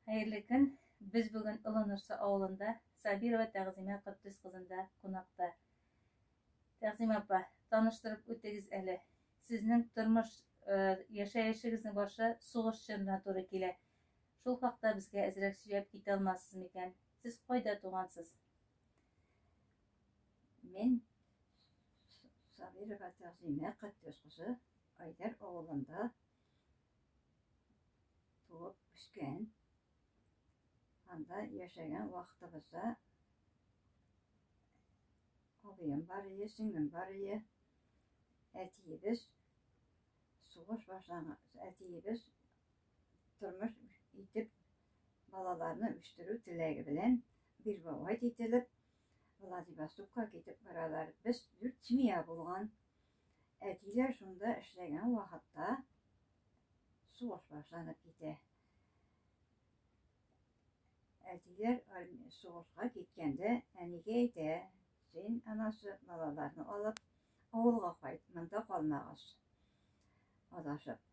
Хәерле көн! Без бүген Олы Нурсы авылында Сабирова Тәгъзимә Котдус кызында кунакта. Тәгъзимә апа, таныштырып үтегез әле. Сезнең тормыш, э, яшәешегезнең башы сугыш чорына туры килә. Шул хакта безгә әзрәк сөйләп китә алмассыз микән? Сез кайда тугансыз? Мин Сабирова Тәгъзимә Котдус кызы Айдар авылында Туып үскән, анда яшәгән вакытыбызда абыем бар иде, сеңлем бар иде. Әтиебез сугыш башланган, әтиебез тормыш итеп балаларны үстерү теләге белән Бирбавай кителеп, Владивостокка китеп баралар. Без дүрт семья булган. Әтиләр шунда эшләгән вакытта сугыш башланып китә. Әтиләр сугышка киткәндә әнигә әйтә, син анасы балаларны алып авылга кайт, монда калмагыз. Адашып,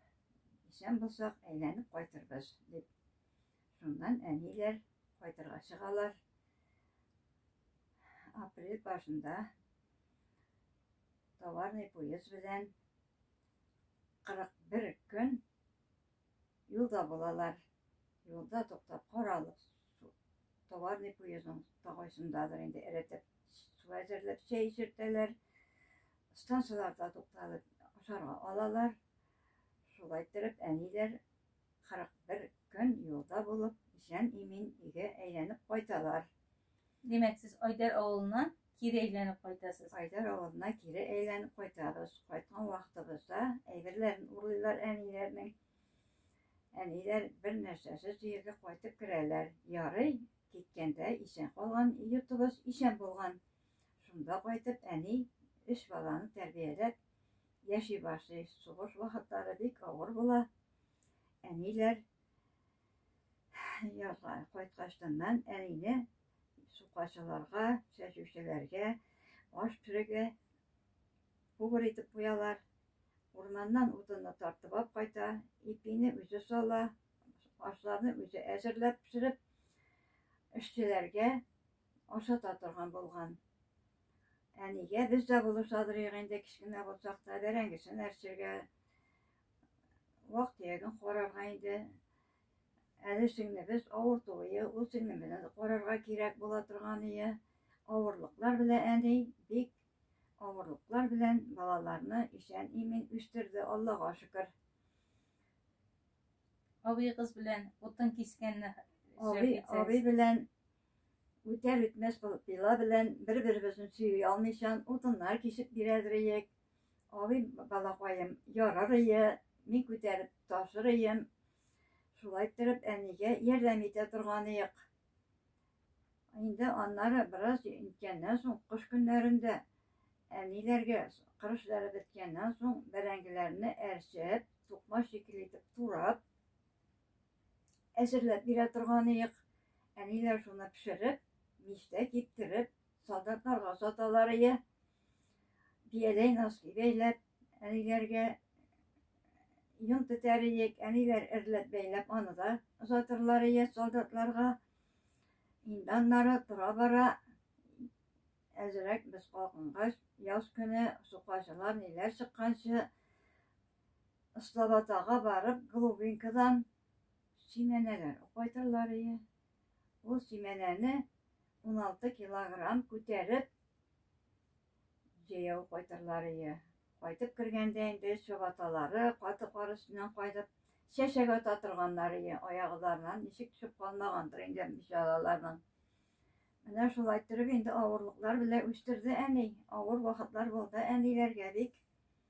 исән булсак, әйләнеп кайтырбыз, дип. Шуннан әниләр кайтырга чыгалар. Апрель башында Товарный поезд белән 41 көн юлда булалар. Юлда туктап каралып, товарный поездның тагайсындадыр инде эретеп, су әзерләп чәй эчертәләр. Станцияләрдә тукталып ашарга алалар. Шулай иттереп әниләр 41 көн юлда булып, исән-имин өйгә әйләнеп кайталар. Димәк, сез Айдар авылына кире әйләнеп кайтасыз? Айдар авылына кире әйләнеп кайтабыз. Кайткан вакытыбызда әйберләрен урлыйлар әниләрнең. Әниләр бер нәрсәсез җиргә кайтып керәләр. Ярый, киткәндә исән калган йортыбыз исән булган. Шунда кайтып әни өч баланы тәрбияләп яши башлый. Сугыш вакытлары бик авыр була. Әниләр Язга кайткачтаннан әнине сукачыларга, чәчүчеләргә, аш пешерергә күгер итеп куялар. Урманнан утынны тартып алып кайта, ипине үзе сала, ашларны үзе әзерләп пешереп, эшчеләргә ашата торган булган. Әнигә без дә булышадырыйк инде, кечкенә булсак та, бәрәңгесен әрчергә, вак төяген карарга инде. Әле сеңлебез авыртуы, ул сеңлебезне карарга кирәк була торган ие. Авырлыклар белән әни бик авырлыклар белән балаларны исән имин үстерде, Аллага шөкер. Абый кыз белән утын кискәнне Абый, абый белән үтәр үтмәс пила белән бер-беребезне сөйи алмыйчан утыннар кисеп бирәдер иек. Абый балакаем, ярар ие, мин күтәреп ташыр ием. Шулай торып әнигә ярдәм итә торган иек. Инде аннары бераз үткәннән соң кыш көннәрендә әниләргә кыр эшләре беткәннән соң бәрәңгеләрне әрчеп, тукма шикелле итеп турап, әзерләп бирә торган иек. Әниләр шуны пешереп, мичтә киптереп, солдатларга саталар иде. бияләй носки бәйләп, әниләргә йон тетәр иек, әниләр эрләп бәйләп, аны да озатырлар ие солдатларга. Инде аннары тора бара, әзерәк без калкынгач, яз көне сукаҗылар ниләр чыкканчы, Слободага барып, Глубинкадан симәнәләр кайтырлар ие. Ул симәнәне 16 килограмм күтәреп, Җәяү кайтырлар ие. Кайтып кергәндә инде чабаталары, каты кар өстеннән кайтып, чәчәк ата торганнар ие. Аягызларыннан ничек төшеп калмагандыр инде бичараларның. Менә шулай иттереп инде авырлыклар белә үстерде әни. Авыр вакытлар булды әниләргә бик.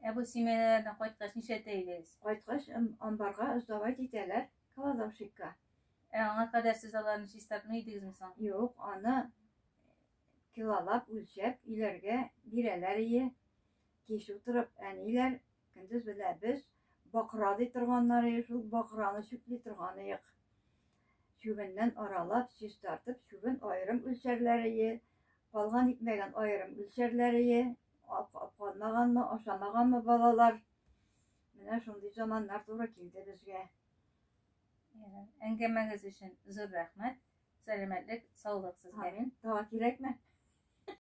Ә бу семьялардан кайткач нишләтә идегез? Кайткач амбарга сдавать итәләр, кладовщикка. Ә аңа кадәр сез аларны чистартмый идегезме соң? Юк, аны килолап үлчәп өйләргә бирәләр ие, кич утырып әниләр, көндез белә без бакра ди торганнарые шул бакраны чүпли торганыек. Чүбеннән аралап, чис тартып, чүбен аерым үлчәрләрие, калган икмәген аерым үлчәрләрие, калмаганмы, ашамаганмы балалар. Менә шундый заманнар туры килде безгә. Әңгәмәгез өчен зур рәхмәт. Сәламәтлек, саулык сезгә. Амин. Дава кирәкме?